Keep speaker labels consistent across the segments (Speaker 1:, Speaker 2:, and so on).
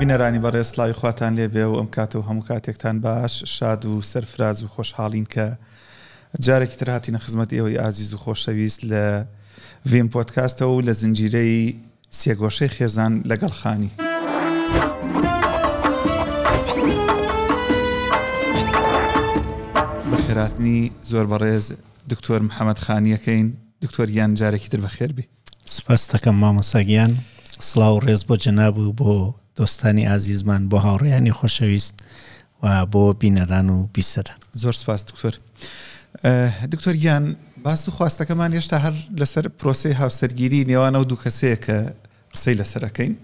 Speaker 1: بینەرانی بەڕێز سلاوی خواتان لێبێ و ئەم کاتە و هەموو کاتێکتان باش شاد و سەرفراز و خۆشحاڵین کە جارێکی تر هاتینە خزمەت ئێوەی ئازیز و خۆشەویست لە ڤیم پۆتکاستەوە و لە زنجیرەی سێگۆشەی خێزان لەگەڵ خانی. بەخێراتنی زۆر بەڕێز دکتۆر محەممەد خانیەکەین دکتۆر گیان جارێکی تر بەخێر بی. سپاس دەکەم
Speaker 2: مامۆستا گیان سڵاو و ڕێز بۆ جەناب و بۆ دۆستانی ئازیزمان بۆ هاوڕێیانی خۆشەویست و بۆ بینەران و بیسەران زۆر سپاس دکتۆر
Speaker 1: دکتۆر گیان باس و خواستەکەمان هێشتا هەر لەسەر پرۆسی هاوسەرگیری نێوانە و دوو کەسەیە کە قسەی لەسەر ئەکەین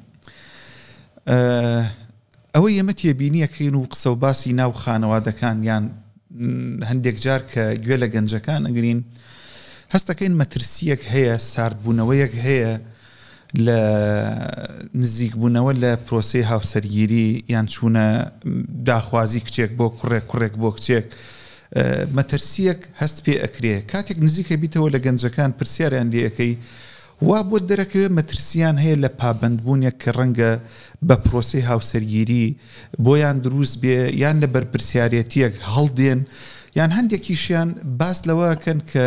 Speaker 1: ئەوەی ئێمە تێبینیەکەین و قسە و باسی ناو خانەوادەکان یان هەندێک جار کە گوێ لە گەنجەکان ئەگرین هەستەکەین مەترسیەک هەیە ساردبوونەوەیەک هەیە لە نزیکبوونەوە لە پرۆسی هاوسەرگیری یان چوونە داخوازی کچێک بۆ کوڕێک کوڕێک بۆ کچێک مەترسیەک هەست پێ ئەکرێ کاتێک نزیکە بیتەوە لە گەنجەکان پرسیاریان لەکەی وا بۆت دەرەکەوێت مەترسییان هەیە لە پابەندبوونێک کە ڕەنگە بە پرۆسەی هاوسەرگیری بۆیان دروست بێ یان لە بەرپرسیارێتییەک هەڵدێن یان هەندێکیشیان باس لەوە ئەکەن کە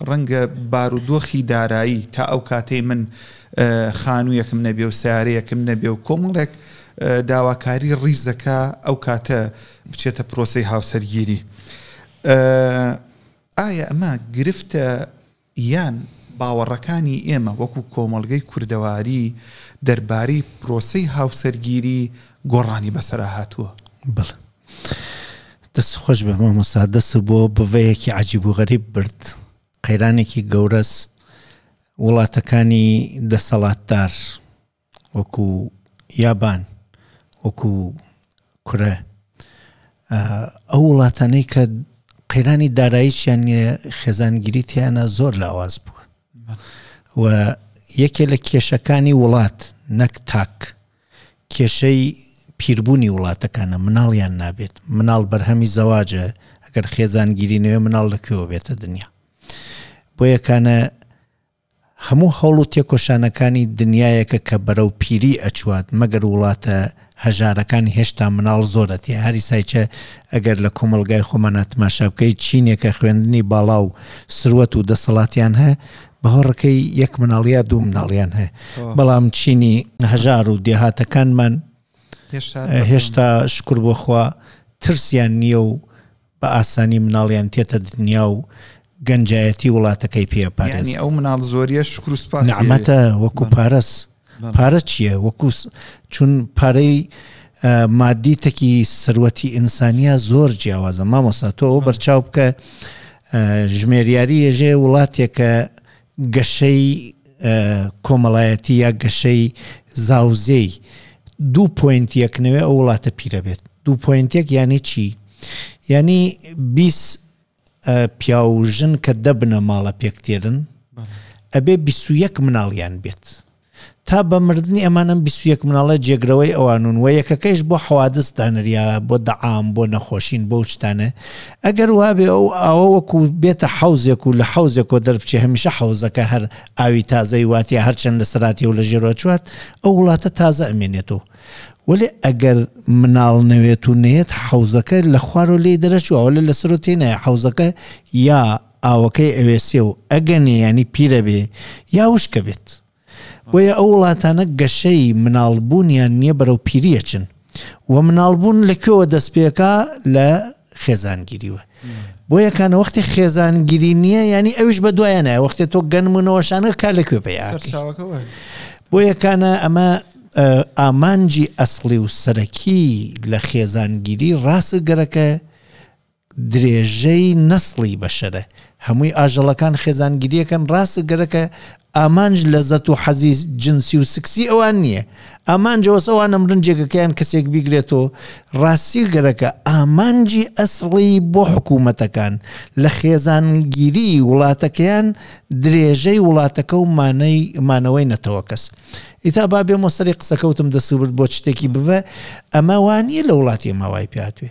Speaker 1: ڕەنگە بارودۆخی دارایی تا ئەو کاتەی من خانوویەکم نەبێ و سیارەیەکم نەبێ و کۆمەڵێک داواکاری ڕیزەکە ئەو کاتە بچێتە پرۆسەی هاوسەرگیری ئایا ئەمە گرفتە یان باوەڕەکانی ئێمە وەکو کۆمەڵگەی کوردەواری دەربارەی پرۆسەی هاوسەرگیری گۆڕانی بەسەرا هاتووە؟
Speaker 2: بەڵێ. دەست خۆش بێ مامۆستا دەست بۆ بڤەیەکی عەجیب و غەریب برد قەیرانێکی گەورەس وڵاتەکانی دەسەڵاتدار وەکو یابان وەکو کورە ئەو وڵاتانەی کە قەیرانی داراییان خێزانگیری تیانە زۆر لاواز بووە و یەکێ لە کێشەکانی وڵات نەک تاک کێشەی پیربوونی وڵاتەکانە مناڵیان نابێت مناڵ بەرهەمی زەواجە ئەگەر خێزانگیری نوێ مناڵ لەکوێوە بێتە دنیا بۆ یەکانە هەموو هەوڵ و تێکۆشانەکانی دنیایەکە کە بەرەو پیری ئەچوات مەگەر وڵاتە هەژارەکان هێشتا مناڵ زۆر ئەتێ هاری سایچە ئەگەر لە کۆمەڵگای خۆمانا تماشا بکەی چینێکە خوێندنی باڵا و سروەت و دەسەڵاتیان هە باوەڕکەی یەک مناڵ یا دوو مناڵیان هە بەڵام چینی هەژار و دێهاتەکانمان هێشتا شکر بۆخوا ترسیان نییە و بە ئاسانی مناڵیان تێتە دنیا و گەنجایەتی وڵاتەکەی پێ ئەپارێزن. یانی ئەو مناڵ زۆریە
Speaker 1: شکر و سوپاسی ئەوێ. نەعمەتە وەکو
Speaker 2: پارەس. پارە چییە؟ وەکو چون پارەی مادی تەکی سەروەتی ئینسانیە زۆر جیاوازە مامۆستا تۆ ئەوە بەرچاو بکە ژمێریاری یەژێ وڵاتێکە گەشەی کۆمەڵایەتی یا گەشەی زاوزێی دوو پۆینتیەک نەوێ ئەو وڵاتە پیرە بێت دوو پۆینتێک یعنی چی یعنی بیست پیاو و ژن کە دەبنە ماڵە پێک تێرن ئەبێ بیست و یەک مناڵیان بێت تا بە مردنی ئەمان ئەم بیست و یەک مناڵە جێگرەوەی ئەوانون وە یەکەکەیش بۆ حەوادس دانریاە بۆ دەعام بۆ نەخۆشین بۆ شتانێ ئەگەر وابێ ئەو ئاوە وەکو بێتە حەوزێک و لە حەوزێکۆ دەربچێ هەمیشە حەوزەکە هەر ئاوی تازەی واتە هەرچەند لە سەراتی و لە ژێرۆ چوات ئەو وڵاتە تازە ئەمێنێتەوە وەێ ئەگەر مناڵ نەوێت و نێت حەوزەکە لە خوارۆ لێ دەرەچوە لە لەسەر و تێنای حەوزەکە یا ئاوەکەی ئەوێسێ و ئەگەنێ یانی پیرە بێ یا وشکە بێت. بۆیە ئەو وڵاتانە گەشەی مناڵ بوونیان نیە بەرەو پیری ئەچن. وە مناڵ بوون لە کوێوە دەست پێکا لە خێزانگیریوە. بۆیە کانە وەختی خێزانگیری نیە یانی ئەویش بە دوایە نایە وەختێ تۆ گەنمونەوەشانە کا لە کوێ پێیا. بۆ یەکانە ئەمە ئامانجی ئەسڵی و سەرەکی لە خێزانگیری ڕاست گەرەکە درێژەی نەسڵی بەشەرە، هەمووی ئاژەڵەکان خێزانگیریەکەن ڕاستە گەرەکە ئامانج لەزەت و حەزی جنسی و سکسی ئەوان نییە ئامانجە وەس ئەوان ئەمرن جێگەکەیان کەسێک بیگرێتەوە ڕاستی گەرەکە ئامانجی ئەسڵی بۆ حکوومەتەکان لە خێزانگیری وڵاتەکەیان درێژەی وڵاتەکە و مانەی مانەوەی نەتەوە کەس ئیتا با بێمە سەری قسەکەوتم دەسوبرد بۆ شتێکی بڤە ئەمە وانە لە وڵاتی ماوای پێاتوێ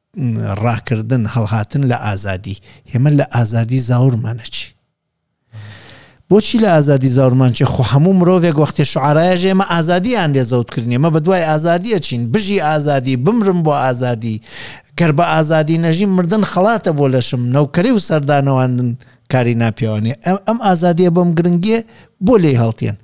Speaker 2: ڕاکردن هەڵهاتن لە ئازادی ئێمە لە ئازادی زاورمانە چی بۆچی لە ئازادی زاورمان چێ خۆ هەموو مرۆڤێک وەختی شعراە ژێمە ئازادیان لێ زەوت کردنی ئمە بە دوای ئازادیە چین بژی ئازادی بمرم بۆ ئازادی گەر بە ئازادی نەژی مردن خڵاتە بۆ لەشم نەوکەری و سەردانەواندن کاری ناپیاوانێ ئەم ئازادیە بۆم گرنگیە بۆ لێ هەڵتێن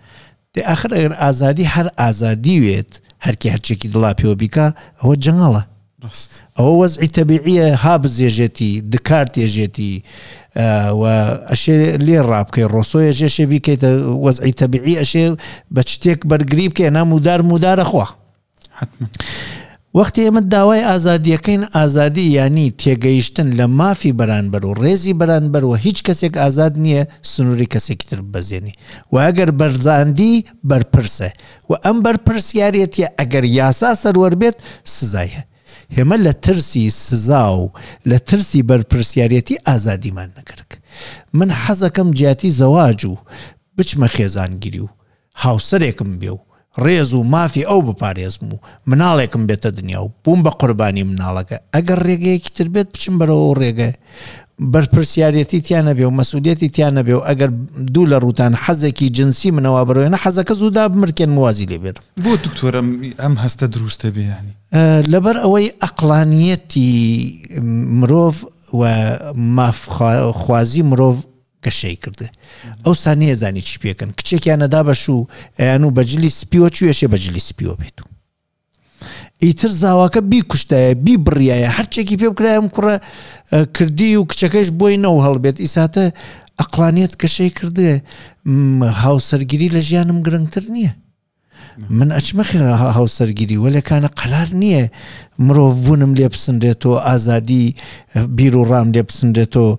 Speaker 2: دەی ئاخر ئەگەر ئازادی هەر ئازادی وێت هەرکی هەرچێکی دڵا پێوە بیکا ئەوە جەنگەڵە ڕاست ئەوە وەزعی تەبیعیە ها بزێژێتی دکارت ێژێتی و ئەشێ لێ ڕابکەی ڕۆسۆیە ژێشێ بیکەیتە وەزعی تەبیعی ئەشێ بە شتێک بەرگری بکەێ نامودار مودارە خوا حەتمەن. وەختی ئێمە داوای ئازادییەکەین، ئازادی یانی تێگەیشتن لە مافی بەرانبەر و ڕێزی بەرانبەر و هیچ کەسێک ئازاد نییە سنووری کەسێکی تر ببەزێنی و ئەگەر بەزاندی بەرپرسە و ئەم بەرپرسیارێتییە ئەگەر یاسا سەروەر بێت سزای هەیە. ئێمە لە ترسی سزا و لە ترسی بەرپرسیارێتی ئازادیمان نەکرد. من حەزەکەم جیاتی زەواج و بچمە خێزانگیری و هاوسەرێکم بێ و ڕێز و مافی ئەو بپارێزم و مناڵێکم بێتە دنیا و بووم بە قوربانی مناڵەکە، ئەگەر ڕێگەیەکی تر بێت بچم بەرەو ئەو ڕێگایە بەرپرسیارێتی تیا نەبێ و مەسئولیەتی تیا نەبێ و ئەگەر دوو لە ڕووتان حەزێکی جنسی منە وا بەرێنە حەزەکە زوو دابمرکێنم و وازی لێ بێنم. بۆ دکتۆر
Speaker 1: ئەم هەستە دروستە بێ یانی؟ لەبەر ئەوەی
Speaker 2: ئەقڵانیەتی مرۆڤ و ماف خوازی مرۆڤ گەشەی کرد ئەوسا نێزانی چی پێکەن کچێکیان نەدا بەش و ئەیان و بەجلی سپیوە چێشێ بەجلی سپیوە بێت و ئیتر زاواکە بیکوشتایە بی بڕایە هەرچێکی پێ بکرایم کوڕە کردی و کچەکەش بۆی نەو هەڵبێت ئیساتە ئەقلانیت کەشەی کردێ هاوسەرگیری لە ژیانم گرنگتر نییە من ئەچمە هاوسەرگیری وەلێ کانە قەلار نییە مرۆڤ بوونم لێ بسنرێتەوە ئازادی بیر و ڕام لێ بسنرێتەوە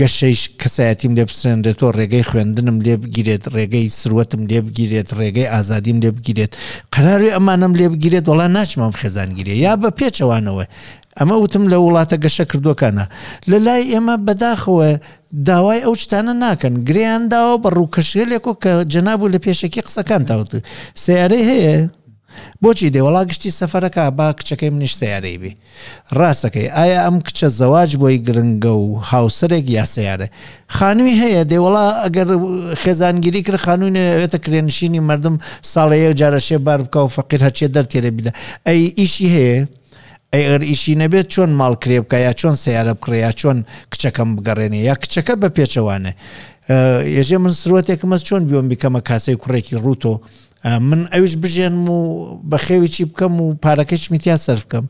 Speaker 2: گەشەیش کەسایەتیم لێ بسرێنرێتەوە ڕێگەی خوێندنم لێ بگیرێت ڕێگەی سروەتم لێ بگیرێت ڕێگەی ئازادیم لێ بگیرێت قەراروی ئەمانم لێ بگیرێت وڵا ناچمەم خێزانگیری یا بە پێچەوانەوە ئەمە وتم لە وڵاتە گەشە کردوەکانە لە لای ئێمە بەداخەوە داوای ئەو شتانە ناکەن گرێیان داوە بە ڕووکەشێلێک و کە جەناب و لە پێشەکی قسەکان تاوت سیارەی هەیە بۆچی دێ وڵا گشتی سەفەرەکە با کچەکەی منیش سیارەی بی ڕاستەکەی ئایا ئەم کچە زەواج بۆی گرنگە و هاوسەرێک یا سیارە خانووی هەیە دێ وڵا ئەگەر خێزانگیری کرد خانووی نوێتە کرێنشینی مردم ساڵەیە جارەشێ بار بکە و فەقیر هەرچێ دەرتێرە بیدا ئەی ئیشی هەیە ئەی ئەگەر ئیشی نەبێت چۆن ماڵ کرێ بکە یا چۆن سیارە بکڕێ یا چۆن کچەکەم بگەڕێنێ یا کچەکە بە پێچەوانە یەژێ من سروەتێکمە چۆن بیۆم بیکەمە کاسەی کوڕێکی ڕووتۆ من ئەوش بژێنم و بە خێویی بکەم و پارەکەش میتیا سەر بکەم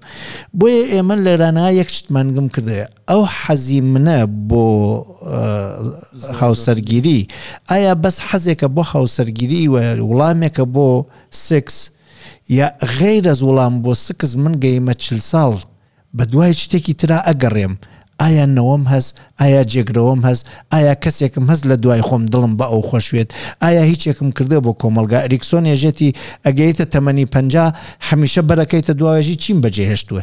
Speaker 2: بۆیە ئێمە لەرانە یەک شتمانگم کردێ ئەو حەزی منە بۆ هاوسەرگیری ئایا بەس حەزێکە بۆ هاوسەرگیری و وڵامێکە بۆ سکس یا غەیر از وڵام بۆ سکس من گەیمە چل ساڵ بەدوای شتێکی ترا ئەگەڕێم ئایا نەوەم هەس ئایا جێگرەوەم هەس ئایا کەسێکم هەس لە دوای خۆم دڵم بە ئەو خۆشوێت ئایا هیچێکم کردوە بۆ کۆمەڵگا ئەریکسۆن یەژێتی ئەگەیتە تەمەنی پەنجا هەمیشە بەرەکەیتە دواێژی چیم بەجێهێشتوە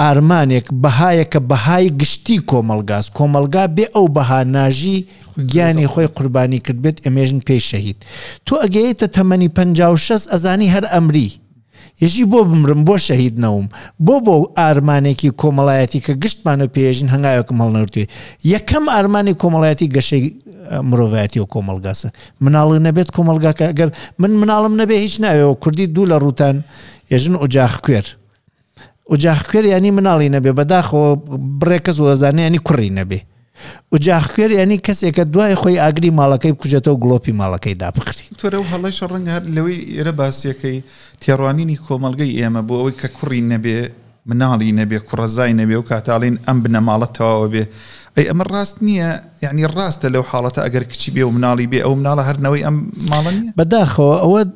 Speaker 2: ئارمانێک بەهایە کە بەهای گشتی کۆمەڵگاس کۆمەڵگا بێ ئەو بەها ناژی گیانی خۆی قوربانی کردبێت ئەمێژن پێی شەهید تۆ ئەگەیتە تەمەنی پەنجا و شەست ئەزانی هەر ئەمری یەژی بۆ بمرم بۆ شەهید نەوم بۆ بۆ ئارمانێکی کۆمەڵایەتی کە گشتمان و پێژن هەنگاوێکم هەڵنەوتێ یەکەم ئارمانی کۆمەڵایەتی گەشەی مرۆڤایەتی و کۆمەلگاسە مناڵی نەبێت کۆمەلگاکە گەر من مناڵم نەبێ هیچ ناوێەوە کوردی دوو لە ڕوتان ێژن ئۆجاخ کوێر ئوجاخکوێر یانی مناڵی نەبێ بەداخۆ بڕێ کەس وەزانانی یعنی کوڕی نەبێ ئوجاخکوێر یانی کەسێکە دوای خۆی ئاگری ماڵەکەی بکوژێتەوە گڵۆپی ماڵەکەی دابخری تۆرە و هەڵی شەڕنگ
Speaker 1: هەر لەوەی ئێرە باسیەکەی تێڕوانینی کۆمەلگەی ئێمە بۆ ئەوەی کە کوڕی نەبێ مناڵی نەبێ کوڕەزای نەبێ و کاتاڵین ئەم بنەماڵە تەواوە بێ ئەی ئەمە ڕاست نییە یعنی ڕاستە لەو حاڵەتە ئەگەر کچی بێ و مناڵی بێ ئەو مناڵە هەرنەوەی ئەم ماڵە نیە بەداخەوە ئەوە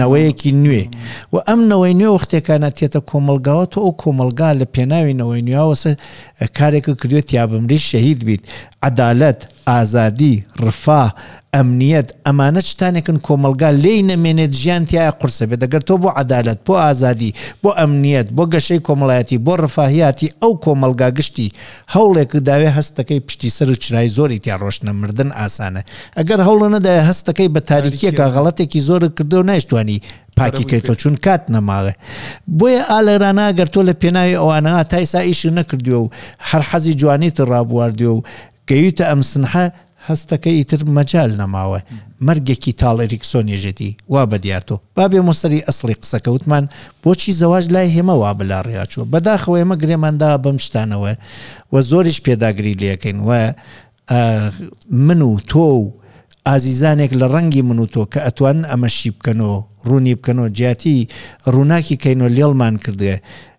Speaker 2: نەوەیەکی نوێ و ئەم نەوەی نوێ وەختێکا نەتێتە کۆمەڵگاوە تۆ ئەو کۆمەڵگا لە پێناوی نەوەی نوێاوەسە کارێکە کردوێت تیابمریت شەهید بیت عەدالەت ئازادی رفاه ئەمنیەت ئەمانە چتانێکن کۆمەڵگا لێی نەمێنێت ژیان تایە قورسە بێت دەگەر تۆ بۆ عەدالەت بۆ ئازادی بۆ ئەمنیەت بۆ گەشەی کۆمەڵایەتی بۆ رفاهیاتی ئەو کۆمەڵگا گشتی هەوڵێکت داوێ هەست دەکەی پشتی سەر و چرای زۆری تیا ڕۆشتنە مردن ئاسانە ئەگەر هەوڵە نەدایە هەست دەکەی بە تاریکیەکە غەڵەتێکی زۆرت کردو نایشتوانی پاکی کەیتۆ چون کات نەماوێ بۆیە ئالەرانە گەر تۆ لە پێناوی ئەوانە تایسا ئیشی نەکردوێ و هەر حەزی جوانیت ڕابواردوێ و گەیوتە ئەم سنحە هەستەکە ئیتر مەجال نەماوە مەرگێکی تاڵ ئریکسۆن یەژێتی وا بە دیار تۆ با بێمۆ سەری ئەسڵی قسەکە وتمان بۆچی زەواج لای هێمە وا بە لا ڕیا چووە بە داخەوە ئێمە گرێمان داوە بەم شتانەوە و زۆریش پێداگری لێ کەین و من و تۆ و ئازیزانێک لە ڕەنگی من و تۆ کە ئەتوانن ئەمە شی بکەن و ڕوونی بکەن و جیاتی ڕووناکی کەین و لێڵمان کردێ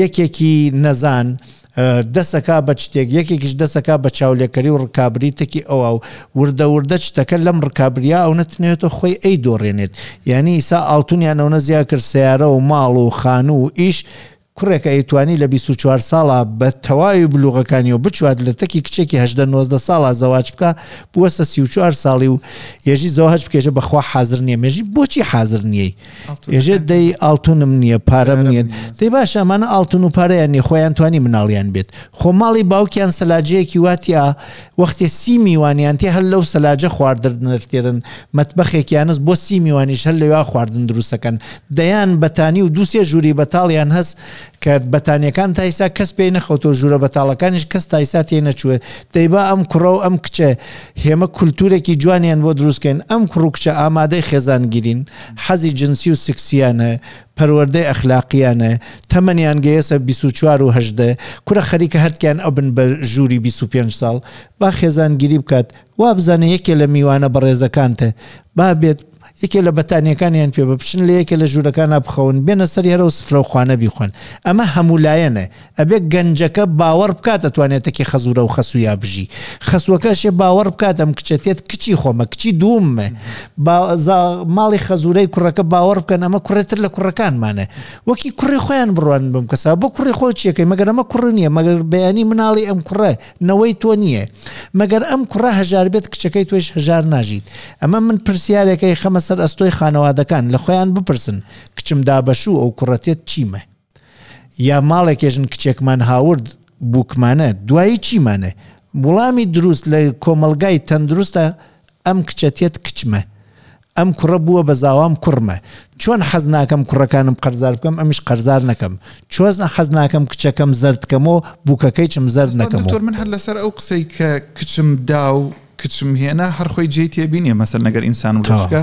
Speaker 2: یەکێکی نەزان دەست ئەکا بە چتێک، یەکێکیش دەست ئەکا بە چاولێکەری و ڕکابری تەکی ئەوا و وردە وردە چتەکە لەم ڕکابرییە ئەونە تنێتەوە خۆی ئەیدۆڕێنێت. یانی ئیسا ئاڵتونیان ئەونە زیا کرد سەیارە و ماڵ و خانوو و ئیش، کوڕێک ئەیتوانی لە بیست و چوار ساڵا بە تەواوی بلوغەکانیەوە بچوات لە تەکی کچێکی هەژدە نۆزدە ساڵا زەواج بکا بوەستە سی و چوار ساڵی و یەژی زەواج بکێژە بەخوا حازر نیە مێژی بۆچی حازر نیەی؟ ئێژێ دەی ئاڵتونم نییە پارەم نیە دەی باشە ئەمانە ئاڵتون و پارەیان نیە خۆیان توانی مناڵیان بێت خۆ ماڵی باوکیان سەلاجەیەکی واتیا وەختێ سی میوانیان تێ هەر لەو سەلاجە خواردنرتێرن مەتبەخێکیانست بۆ سی میوانیش هەر لەوا خواردن دروستەکەن دەیان بەتانی و دووسێ ژووری بەتاڵیان هەست کە بەتانیەکان تایسا کەس پێی نەخەوتۆ ژوورە بەتاڵەکانیش کەس تایسا تێ نەچوێت دەیبا ئەم کوڕە و ئەم کچە هێمە کولتوورێکی جوانیان بۆ دروست کەین، ئەم کوڕ و کچە ئامادەی خێزانگیرین، حەزی جنسی و سکسییان هەیە، پەروەردەی ئەخلاقییان هەیە، تەمەنیان گەیەسە بیست و چوار و هەژدە، کورە خەریکە هەرتکیان ئەبن بە ژووری بیست و پێنج ساڵ، با خێزانگیری بکات، وابزانە یەکێ لە میوانە بەڕێزەکانتە، با بێت، یەکێ لە بەتانییەکانیان پێ بە، بچن لە یەکێ لە ژوورەکانا بخەون، بێنە سەری هەرەو سفرە و خوانە بیخۆن. ئەمە هەموولایەنە. ئەبێ گەنجەکە باوەڕ بکات ئەتوانێ تەکی خەزوورە و خەسوویا بژی. خەسووەکەشێ باوەڕ بکات ئەم کچە تێت کچی خۆمە، کچی دووممە. با زا ماڵی خەزوورەی کوڕەکە باوەڕ بکەن ئەمە کوڕێ تر لە کوڕەکانمانە. وەکی کوڕی خۆیان بڕوانن بەم کەسا. بۆ کوڕی خۆت چییەکەی؟ مەگەر ئەمە کوڕ نییە؟ مەگەر بەیانی مناڵی ئەم کوڕە؟ نەوەی تۆ نییە مەگەر ئەم کوڕە هەژاربێت کچەکەی تۆیش هەژار ناژیت ئەمە من پرسیارێکە یخەمە سەر ئەستۆی خانەوادەکان لە خۆیان بپرسن کچم دابەشوو ئەو کوڕە تێت چیمە یا ماڵێکێژن کچێکمان هاورد بووکمانە دوایی چیمانە وڵامی دروست لە کۆمەلگای تەندروستە ئەم کچە تێت کچمە ئەم کوڕە بووە بە زاوام کوڕمە چۆن حەز ناکەم کوڕەکانم قەرزار بکەم ئەمیش قەرزار نەکەم چۆزنە حەز ناکەم کچەکەم زەردکەمەوە بووکەکەیچم زەرد نەکەم تۆر من هەر لەسەر ئەو قسەی
Speaker 1: کە کچم داو کچم هێنا هەرخۆی جێی تێبینێ مەسەر نەگەر ئینسان وکە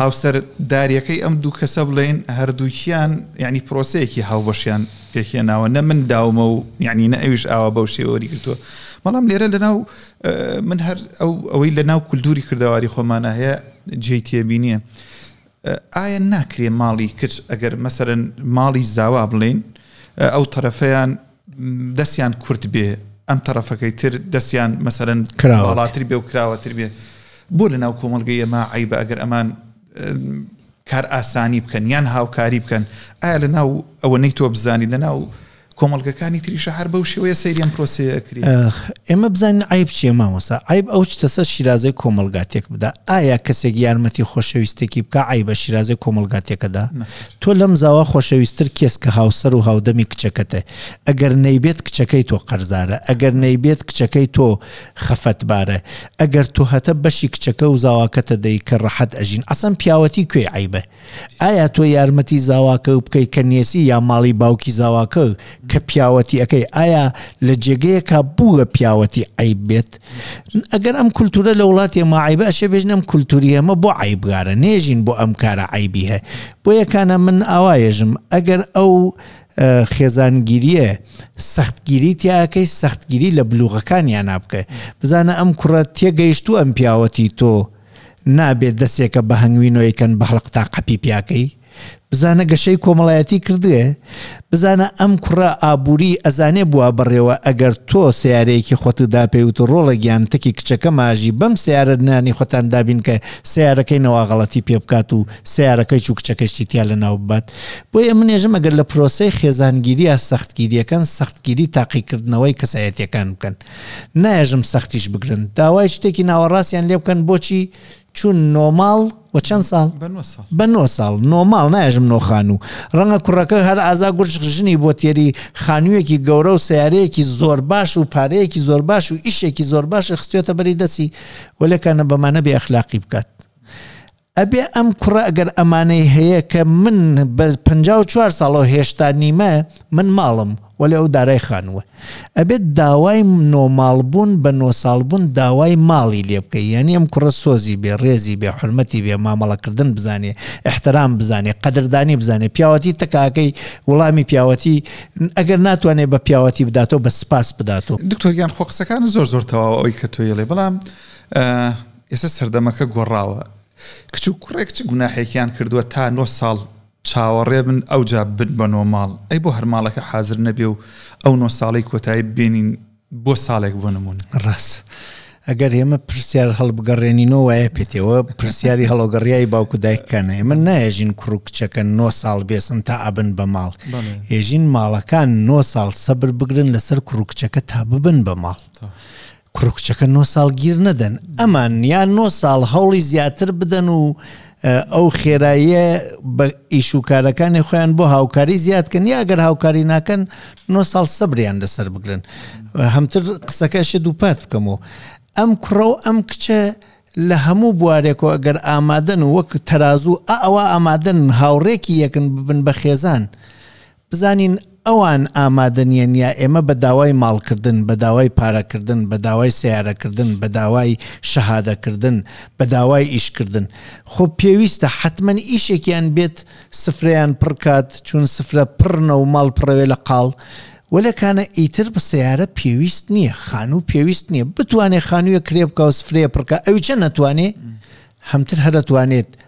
Speaker 1: هاوسەر داریەکەی ئەم دوو کەسە بڵێن هەردووکیان ینی پرۆسەیەکی هاوبەشیان پێکێناوە نە من داومە و یعنی نە ئەویش ئاوا بەو شێوەری کردووە بەڵام لێرە لەناو من هەر ئەو ئەوەی لە ناو کولتوری کردەواری خۆمانە هەیە جێی تێبینیە ئایا ناکرێ ماڵی کچ ئەگەر مەسەرەن ماڵی زاوا بڵین ئەو طرفەیان دەستیان کورت بێ ئەم طرفەکەی تر دەستیان مەسەرەن کراوەڵاتر بێ و کراوەتر بێ بۆ لە ناو کۆمەلگەی ئەمە عیبە ئەگەر ئەمان کار ئاسانی بکەن یان هاوکاری بکەن ئایا لە ناو ئەوەنەی تۆ بزانی لە ناو کۆمەلگەکانی تریشە هەر بەو شێوەیە سەیرم پرۆسەکری ئێمە بزانین
Speaker 2: ئایب چیە مامۆسا ئایب ئەو چتەسە شیرازەی کۆمەلگاتێک بدا ئایا کەسێک یارمەتی خۆشەویستێکی بکە ئای بە شیرازەی کۆمەلگاتێکەدا تۆ لەم زاوا خۆشەویستتر کێس کە هاوسەر و هاودەمی کچەکەتە ئەگەر نەیبێت کچەکەی تۆ قەرزارە ئەگەر نەیبێت کچەکەی تۆ خەفەت بارە ئەگەر تۆ هەتە بەشی کچەکە و زاواکەتە دەی کە ڕەحەت ئەژین عەسەن پیاوەتی کوێی عەیبە ئایا تۆ یارمەتی زاواکە و بکەی کە نێسی یا ماڵی باوکی زاواکە کە پیاوەتی ئەەکەی ئایا لە جێگەیەکە بووە پیاوەتی عیب بێت ئەگەر ئەم کولتورە لە وڵاتی ماعیبە ئەشێ بێژنم کولتوری ئەمە بۆ عیبگارە نێژین بۆ ئەم کارە عیبی هەیە بۆ یەکانە من ئاوایێژم ئەگەر ئەو خێزانگیریە سەختگیری تیاکەی سەختگیری لە بلوغەکانیانا بکە بزانە ئەم کوڕە تێگەیشتو ئەم پیاوەتی تۆ نابێت دەسێکە بە هەنگوینۆیکەن بەهڵق تا قەپی پیاکەی بزانە گەشەی کۆمەڵایەتی کردێ بزانە ئەم کوڕە ئابووری ئەزانێ بووە بڕێوە ئەگەر تۆ سیارەیەکی خۆت داپێوت و ڕۆڵە گیان تەکی کچەکە ماژی بەم سیارە نانی خۆتان دابین کە سیارەکەی نەواغەڵەتی پێ بکات و سەیارەکەی چوو کچەکەی شتی تیا لەناو ببات بۆی ئەمن نێژم ئەگەر لە پرۆسەی خێزانگیریە سەختگیریەکان سەختگیری تاقیکردنەوەی کەسایەتەکان بکەن نایژم سەختیش بگرن داوای شتێکی ناوەڕاستیان لێ بکەن بۆچی چون نۆماڵ و چەند ساڵ بە نۆ ساڵ نۆماڵ ناژم نۆخان و ڕەنگە کوڕەکە هەر ئازا گورج ژنی بۆ تێری خانوویەکی گەورە و سیارەیەکی زۆر باش و پارەیەکی زۆر باش و ئیشێکی زۆر باش خستێتە بەری دەسی وەلەکانە بەمانە بێ ئەخلاقی بکات ئەبێ ئەم کوڕە ئەگەر ئەمانەی هەیە کە من بە پەنجا و چوار ساڵەوە هێشتا نیمە من ماڵم وەلێ ئەو دارای خانووە ئەبێت داوای نۆ ماڵ بوون بە نۆ ساڵ بوون داوای ماڵی لێ بکەی یانی ئەم کوڕە سۆزی بێ ڕێزی بێ حرمەتی بێ مامەڵەکردن بزانێ احترام بزانێ قەدردانی بزانێ پیاوەتی تکاکەی وڵامی پیاوەتی ئەگەر ناتوانێت بە پیاوەتی بداتەوە بە سپاس بداتەوە دکتۆر گیان خۆ قسەکان
Speaker 1: زۆر زۆر تەواو ئەوی کە تۆیڵێ بەڵام ئێستا سەردەمەکە گۆڕاوە کچ و کوڕێک چ گوناحێکیان کردووە تا نۆ ساڵ چاوەڕێ بن ئەوجا بن بە نۆ ماڵ ئەی بۆ هەر ماڵەکە حازر نەبێ و ئەو نۆ ساڵەی کۆتایی ببێنین بۆ ساڵێک بۆ نمون ڕاست
Speaker 2: ئەگەر ئێمە پرسیار هەڵبگەڕێنینەوە وایە پێتەوە پرسیاری هەڵۆگەڕیایی باوکو دایکەکانە ئێمە نایژین کوڕ و کچەکە نۆ ساڵ بێسن تا ئەبن بە ماڵ ێژین ماڵەکان نۆ ساڵ سەبر بگرن لەسەر کوڕ و کچەکە تا ببن بە ماڵ. کوڕ و کچەکە نۆ ساڵ گیر نەدەن ئەمان یا نۆ ساڵ هەوڵی زیاتر بدەن و ئەو خێراییە بە ئیش و کارەکانی خۆیان بۆ هاوکاری زیادکەن یا ئەگەر هاوکاری ناکەن نۆ ساڵ سەبریان لەسەر بگرن هەمتر قسەکەشە دووپات بکەم و ئەم کوڕە و ئەم کچە لە هەموو بوارێکەوە ئەگەر ئامادەن و وەک تەرازوو ئەوە ئامادەن هاوڕێکی یەکن ببن بە خێزان بزانین ئەوان ئامادە نیەن یا ئێمە بە داوای ماڵ کردن، بە داوای پارە کردن، بە داوای سەیارە کردن، بە داوای شەهادە کردن، بە داوای ئیش کردن. خۆ پێویستە حەتمەن ئیشێکیان بێت سفرەیان پڕ کات، چون سفرە پڕنە و ماڵ پڕەوێ لە قاڵ. وەلێ کانە ئیتر سەیارە پێویست نیە، خانوو پێویست نیە. بتوانێ خانوویەک کرێ بکا و سفرەیە پڕ کا ئەویچە نەتوانێ هەمتر هەر ئەتوانێت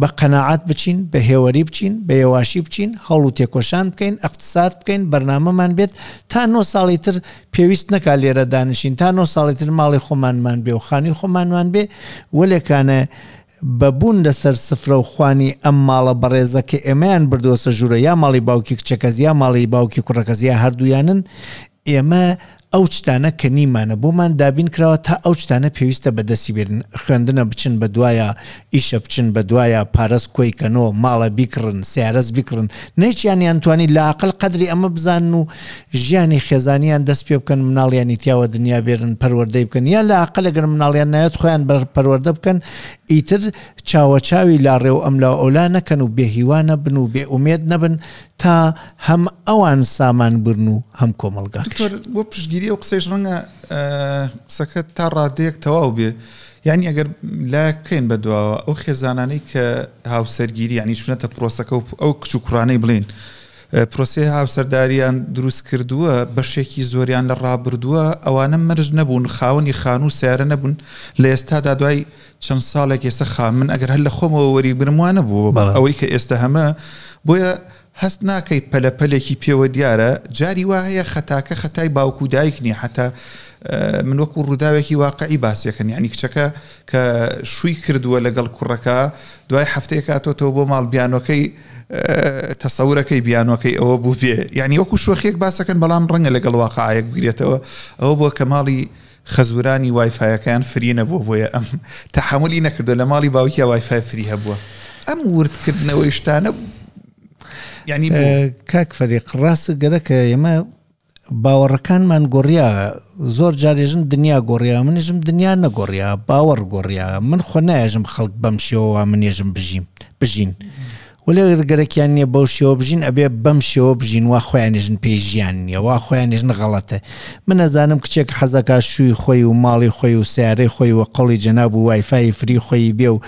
Speaker 2: بە قەناعەت بچین، بە هێوەری بچین، بە یەواشی بچین، هەوڵ و تێکۆشان بکەین، ئەقتساد بکەین، بەرنامەمان بێت، تا نۆ ساڵی تر پێویست نەکا لێرە دانیشین، تا نۆ ساڵی تر ماڵی خۆمانمان بێ و خانوی خۆمانمان بێ، وەلێ کانە بە بوون لە سەر سفرە و خوانی ئەم ماڵە بەڕێزە کە ئێمەیان بردوەسە ژورە یا ماڵی باوکی کچەکەس یا ماڵی باوکی کوڕەکەس یا هەردوویانن ئێمە ئەو چتانە کە نیمانە بۆمان دابین کراوە تا ئەو چتانە پێویستە بە دەستی بێرن خوێندنە بچن بە دوایا ئیشە بچن بە دوایا پارەس کۆی کەنۆ ماڵە بیکڕن سیارەس بیکڕن نەیچیان یان توانی لە ئاقل قەدری ئەمە بزانن و ژیانی خێزانیان دەست پێ بکەن مناڵیانی تیاوە دنیا بێرن پەروەردەی بکەن یا لە ئاقل گەر مناڵیان نایەت خۆیان بەر پەروەردە بکەن ئیتر چاوە چاوی لاڕێ و ئەملا ئەولا نەکەن و بێ هیوانە بن و بێ ئومێد نەبن تا هەم ئەوان سامان برن و هەم کۆمەڵگاکەش. دکتۆر بۆ پشتگیری ئەو
Speaker 1: قسەیش ڕەنگە ئە، قسەکە تا ڕادەیەک تەواو بێ. یانی ئەگەر لایەک بکەین بە دواوە ئەو خێزانانەی کە هاوسەرگیری یانی چونەتە پرۆسەکە و ئەو کچ و کوڕانەی بڵێین ئە، پرۆسەی هاوسەرداریان دروست کردووە، بەشێکی زۆریان لە ڕابردووە ئەوانە مەرج نەبوون خاوەنی خانوو و سەیارە نەبوون لە ئێستادا دوای چەند ساڵێک ئێستا خان من ئەگەر هەر لە خۆمەوە وەریبگرم وا نەبوو ئەوەی کە ئێستا هەمە بۆیە هەست ناکەیت پەلەپەلێکی پێوە دیارە جاری وا هەیە خەتاکە خەتای باوک و دایک نییە حتا من وەکو ڕووداوێکی واقعی باسیەکەن یعنی کچەکە کە شووی کردووە لەگەڵ کوڕەکە دوای هەفتەیە کاتۆتەوە بۆ ماڵ بیانۆکەی تەسەورەکەی بیانۆکەی ئەوە بوو بێ یعنی وەکو شوخێک باسەکەن بەڵام ڕەنگە لەگەڵ واقعەک بگرێتەوە ئەوە بۆ کە ماڵی خەزورانی وای فایەکەیان فری نەبووە بۆیە ئەم تەحەمولی نەکردو لە ماڵی باوکیا وای فای فری هەبووە ئەم وردکردنەوەی شتانە ینی کاک
Speaker 2: فەریق ڕاست گەرەکە ئێمە باوەڕەکانمان گۆڕیا زۆر جارێژم دنیا گۆڕیا منیژم دنیا نەگۆڕیا باوەڕ گۆڕیا من خۆ نایژم خەڵک بەم شێوەوە منێژم بژیم بژین وەلێ ئەگەر گەرەکیان نیە بەو شێوە بژین ئەبێ بەم شێوە بژین وا خۆیان نێژن پێی ژیان نیە وا خۆیان نێژن غەڵەتە من ئەزانم کچێک حەزەکا شووی خۆی و ماڵی خۆی و سیارەی خۆی و قەڵی جەناب و وایفای فری خۆیی بێ و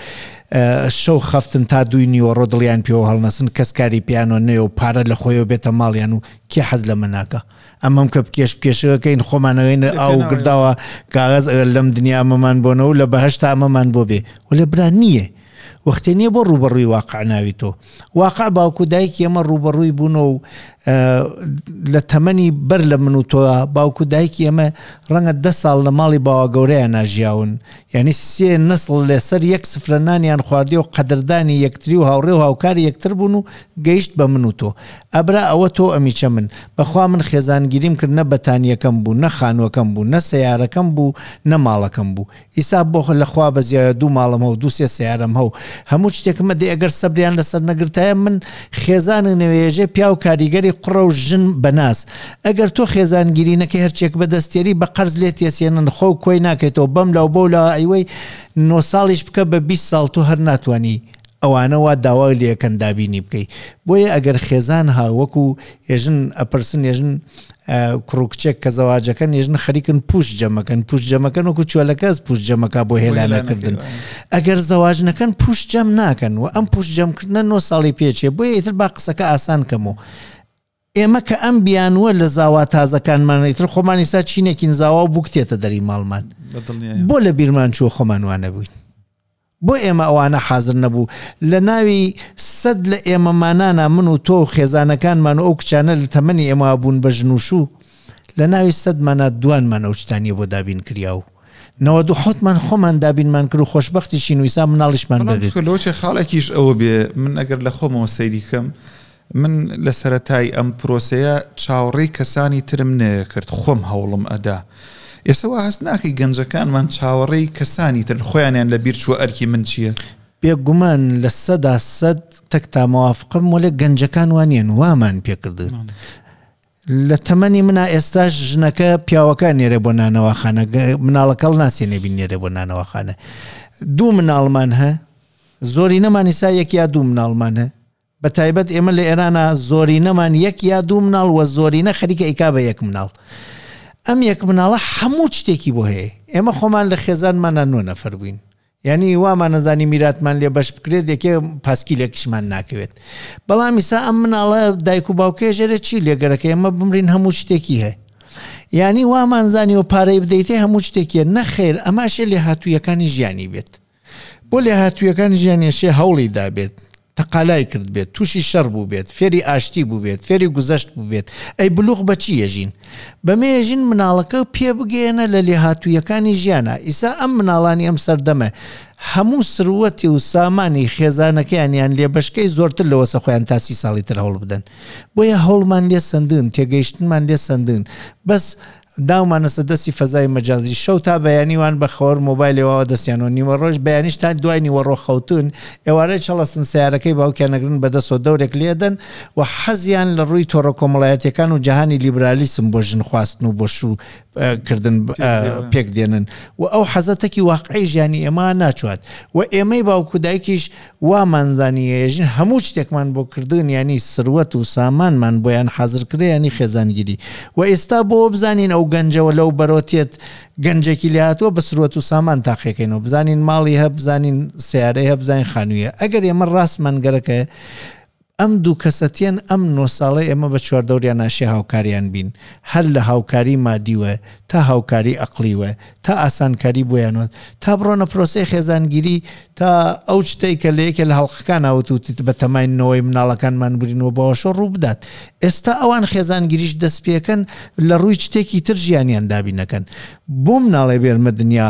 Speaker 2: شەو خەفتن تا دووی نیوەڕۆ دڵیان پێوە هەڵنەسن کەس کاری پیانۆ نوێ و پارە لە خۆیەوە بێتە ماڵیان و کێ حەز لەمە ناکە ئەمەم کە بکێش بکێشەکەین خۆمانەوەین ئاو گرداوە کاغز ئەگەر لەم دنیا ئەمەمان بۆنەوە لە بەهشتا ئەمەمان بۆ بێ و لە برا نییە وەختێ نیە بۆ ڕووبەڕووی واقع ناویتۆ واقع باوک و دایکی ئەمە ڕووبەڕووی بوونەوە و لە تەمەنی بەر لە من و تۆ باوک و دایکی ئەمە ڕەنگە ده ساڵ لە ماڵی باوا گەورەیان ناژیاون یعنی سێ نسڵ لەسەر یەک سفرە نانیان خواردی و قەدردانی یەکتری و هاوڕێ و هاوکاری یەکتر بوون و گەیشت بە من و تۆ ئەبرا ئەوە تۆ ئەمیچە من بەخوا من خێزانگیریم کرد نە بەتانیەکەم بوو نە خانوەکەم بوو نە سیارەکەم بوو نە ماڵەکەم بوو ئیستا بۆ خۆ لە خوا بەزیایە دوو ماڵم هەو دوو سێ سەیارەم هەو هەموو چتێکم ئەدی ئەگەر سەبریان لەسەر نەگرتایە من خێزانگ نەوێژێ پیاو کاریگەری قڕە و ژن بەناز ئەگەر تۆ خێزانگیری نەکەی هەرچێک بەدەستیەری بە قەرز لێت یەسێنن خۆ و کۆی ناکەیتەوە بەم لاو بەو لا ئەیوەی نۆ ساڵیش بکە بە بیست ساڵ تۆ هەر ناتوانی ئەوانە وا داوا لێکەن دابینی بکەی بۆیە ئەگەر خێزان ها وەکو ئێژن ئەپرسن ێژن کوڕ کچێک کە زەواجەکەن ێژن خەریکن پوش جەمەکەن پوش جەمەکەن وەکو چۆلەکەس پوش جەمەکە بۆ هێلانەکردن ئەگەر زەواج نەکەن پوش جەم ناکەن و ئەم پوش جەمکردە نۆ ساڵی پێچێ بۆیە ئیتر با قسەکە ئاسان کەم و ئێمە کە ئەم بیانووە لە زاوا تازەکانمان ئیتر خۆمان ئیستا چینێکین زاوا و بووک تێتە دەری ماڵمان بەدڵنیایەوە. بۆ لە بیرمان چووە خۆمان وا نەبووین؟ بۆ ئێمە ئەوانە حازر نەبوو لە ناوی سەد لە ئێمەمانانا من و تۆ و خێزانەکانمان و ئەو کچانە لە تەمەنی ئێمەوا بوون بە ژن و شوو لە ناوی سەدمانا دوانمان ئەو شتانیە بۆ دابین کریا و نەوەد و حەوتمان خۆمان دابینمان کرد و خۆشبەختیشین و ئیسا مناڵیشمان بەڵام بەبێت. کچکە لۆچێ خاڵێکیش
Speaker 1: ئەوە بێ من ئەگەر لە خۆمەوە سەیری کەم من لە سەرەتای ئەم پرۆسەیە چاوەڕێی کەسانی ترم نەیەکرد خۆم هەوڵم ئەدا ئێسە وا هەست ناکەی گەنجەکانمان چاوەڕێی کەسانی ترن خۆیانیان لە بیر چووە ئەرکی من چیە؟ بێ گومان
Speaker 2: لە سەدا سەد تەکتا مەوافقم وەلێ گەنجەکان وا نیەن وامان پێ کردن لە تەمەنی منا ئێستاش ژنەکە پیاوەکە نێرێ بۆ نانەواخانە مناڵەکەڵ ناسێ نێبین نێرێ بۆ نانەواخانە دوو مناڵمان هە زۆری نەمانی سا یەک یا دوو مناڵمان هە بە تایبەت ئێمە لە ئێرانا زۆرینەمان یەک یا دوو مناڵ وە زۆرینە خەریکە ئیکا بە یەک مناڵ ئەم یەک مناڵە هەموو شتێکی بۆ هەیە ئێمە خۆمان لە خێزانمانە نۆ نەفەر بووین یعنی وامان نەزانی میراتمان لێ بەش بکرێت یەکێ پاسکی لێکشمان ناکەوێت بەڵام ئیسا ئەم مناڵە دایک و باوکێ ژێرە چی لێگەرەکە ئێمە بمرین هەموو شتێکی هەیە یعنی وامانزانی و پارەی بدەیتێ هەموو شتێکیە نەخێر ئەماشێ لێ هاتوویەکانی ژیانی بێت بۆ لێهاتوویەکان ژیانیان شێ هەوڵی دابێت، تەقالای کردبێت، تووشی شەڕ بووبێت، فێری ئاشتی بووبێت، فێری گوزەشت بووبێت، ئەی بلوغ بە چی یەژین؟ بەمێ یەژین مناڵەکە پێ بگەیەنە لە لێهاتوویەکانی ژیانا، ئیسا ئەم مناڵانی ئەم سەردەمە هەموو سروەتی و سامانی خێزانەکەیانیان لێ بەشکەی زۆرتر لەوەسە خۆیان تا سی ساڵی تر هەوڵ بدەن بۆیە هەوڵمان لێ سەندن تێگەیشتنمان لێ سەندن بەس داومانەسە دەستی فەزای مەجازی شەو تا بەیانی وان بە خەوەر مۆبایلێ واوە دەستیان و نیوەڕۆش بەیانیش تا دوای نیوەڕۆ خەوتوون ئێوارە چەڵەسن سەیارەکەی باوکیان ئەگرن بەدەسەوە دەورێک لێ ئەدەن و حەزیان لە ڕووی تۆڕە کۆمەڵایەتیەکان و جەهانی لیبرالیسم بۆ ژن خواستن و بۆ شوو کردن پێک دێنن و ئەو حەزە تەکی واقعی ژیانی ئێمە ناچوات و ئێمەی باوکو دایکیش وامان زانییە ژن هەموو شتێکمان بۆ کردن یانی سروەت و سامانمان بۆیان حازر کرێ یانی خێزانگیری وە ئیستا بۆ بزانین ئەو گەنجەوە لەو بەرۆتیەت گەنجەکی لێ هاتوە بە سروەت و سامان تاقیەکەینەوە بزانین ماڵی هە بزانین سیارەی هە بزانین خانویە ئەگەر ئێمە ڕاستمان گەرەکە ئەم دوو کەسەتیەن ئەم نۆ ساڵەی ئێمە بە چواردەوریا ناشێ هاوکاریان بین هەر لە هاوکاری مادیوە تا هاوکاری ئەقڵیوە تا ئاسانکاری بۆیانوە تا بڕۆنە پرۆسەی خێزانگیری تا ئەو شتەی کە لە یەکێ لە هەڵقەکانا وتوتت بە تەمای نەوەی مناڵەکانمان برین و بەوەشۆ ڕوو بدات ئێستا ئەوان خێزانگیریش دەست پێکەن لە ڕووی شتێکی تر ژیانیان دابینەکەن بۆ مناڵێ بێرمە دنیا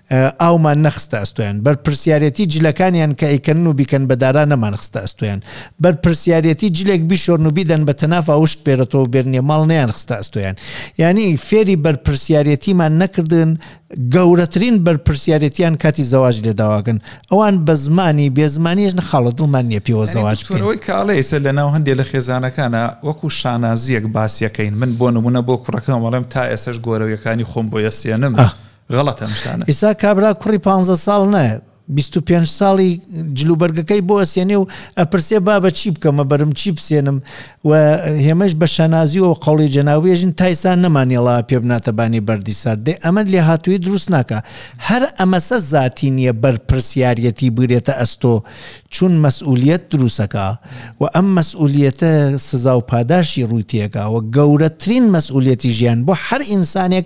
Speaker 2: ئاومان نەخستە ئەستۆیان، بەرپرسیارێتی جلەکانیان کە ئەیکەنن و بیکەن بە دارا نەمان خستە ئەستۆیان، بەرپرسیارێتی جلێک بیشۆرن و بیدەن بە تەنافا وشک بێرەتەوە و بێرنیە ماڵ نەیان خستە ئەستۆیان. یانی فێری بەرپرسیارێتیمان نەکردن، گەورەترین بەرپرسیارێتیان کاتی زەواج لێ داواگن. ئەوان بە زمانی، بێ زمانیش نەخاڵە دڵمان نیە پێوە زەواج بکەین. یانی دکتۆر ئەوەی کە ئەڵێی سەر لە
Speaker 1: ناو هەندێ لە خێزانەکانا وەکو شانازیەک باسیەکەین، من بۆ نمونە بۆ کوڕەکەم ئەڵێم تا ئێسەش گۆرەویەکانی خۆم بۆی ئەسێنم غەڵەتە ئەم شتانە. ئیسا کابرا کوڕی
Speaker 2: پانزە ساڵ نایە بیست و پێنج ساڵی جلوبەرگەکەی بۆ ئەسێنێ و ئەپرسێ بابە چی بکەمە بەرم چی بسێنم و هێمەش بە شانازی و قوڵی جەناوێژن تایسان نەمانێڵا پێ بناتەبانی بەردی سار دێ ئەمە لێ هاتووی دروست ناکە هەر ئەمەسە زیاتی نییە بەرپرسیارەتی بگرێتە ئەستۆ چون مەسئولیت دروستەکە و ئەم مەسئولیتە سزا و پاداشی ڕووی تێگا و گەورەترین مەسئولەتی ژیان بۆ هەر ئینسانێک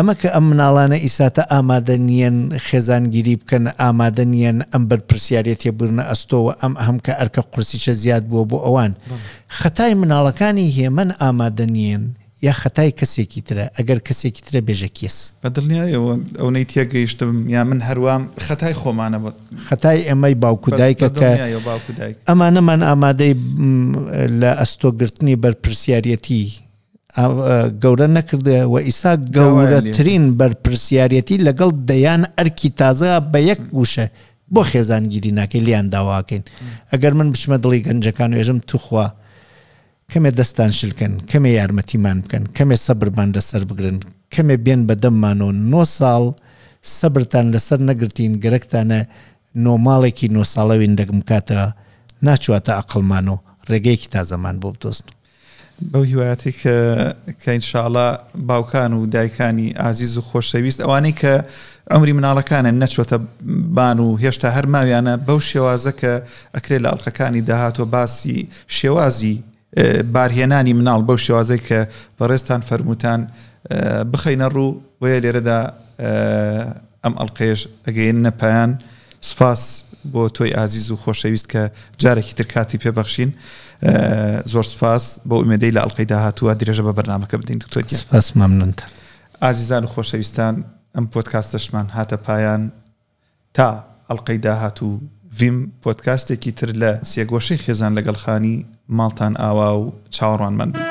Speaker 2: ئەمە کە ئەم مناڵانە ئیساتە ئامادە نیەن خێزانگیری بکەن، ئامادە نیەن ئەم بەرپرسیاریەتیە بگرنە ئەستۆ و ئەم ئەم کە ئەرکە قورسیچە زیاد بووە بۆ ئەوان. خەتای مناڵەکانی هێمن ئامادە نیەن یا خەتای کەسێکی ترە؟ ئەگەر کەسێکی ترە بێژە کێس؟ بە دڵنیایەوە
Speaker 1: ئەونەی تێگەیشتم یا من هەر وام خەتای خۆمانە بە. خەتای ئێمەی
Speaker 2: باوک و دایکە کە ئەمانەمان ئامادەی لە ئەستۆ گرتنی بەرپرسیاریەتی گەورە نەکردێ و ئیسا گەورەترین بەرپرسیارەتی لەگەڵ دەیان ئەرکی تازە بە یەک وشە بۆ خێزانگیری ناکەی لیان داواکەین ئەگەر من بچمە دڵی گەنجەکان و ێژم توخوا کەمێ دەستان شلکەن کەمێ یارمەتیمان بکەن کەمێ سەبرمان لەسەر بگرن کەمێ بێن بە دەممان و نۆ ساڵ سەبرتان لەسەر نەگرتین گەرەکتانە نۆماڵێکی نۆ ساڵەوین دەگم کاتە ناچواتە ئەقلمان و ڕێگەیەکی تازەمان بۆ بدۆزن بەو هیوایەتی
Speaker 1: کە کە ان شاء اللە باوکان و دایکانی ئازیز و خۆشەویست ئەوانەی کە عمری مناڵەکانیان نەچۆتە بان و هێشتا هەر ماویانە بەو شێوازە کە ئەکرێت لە ئەڵلقەکانی داهاتوە باسی شێوازی بارهێنانی مناڵ بەو شێوازەی کە بەڕێزتان فەرمووتان بخەینە ڕوو بۆیە لێرەدا ئەم ئەڵقەیەش ئەگەیەننە پایان سپاس بۆ تۆی ئازیز و خۆشەویست کە جارێکی تر کاتی پێ بەخشین زۆر سپاس بۆ ئومێدەی لە ئەڵلقەی داهاتووە درێژە بە بەرنمەکە بدەین دکتۆر سپاس مەمنونتە
Speaker 2: ئازیزان
Speaker 1: و خۆشەویستان ئەم پۆتکاستەشمان هاتە پایان تا ئەڵقەی داهاتوو ڤیم پۆدکاستێکی تر لە سێگۆشەی خێزان لەگەڵ خانی ماڵتان ئاوا و چاوەڕوانمان بن.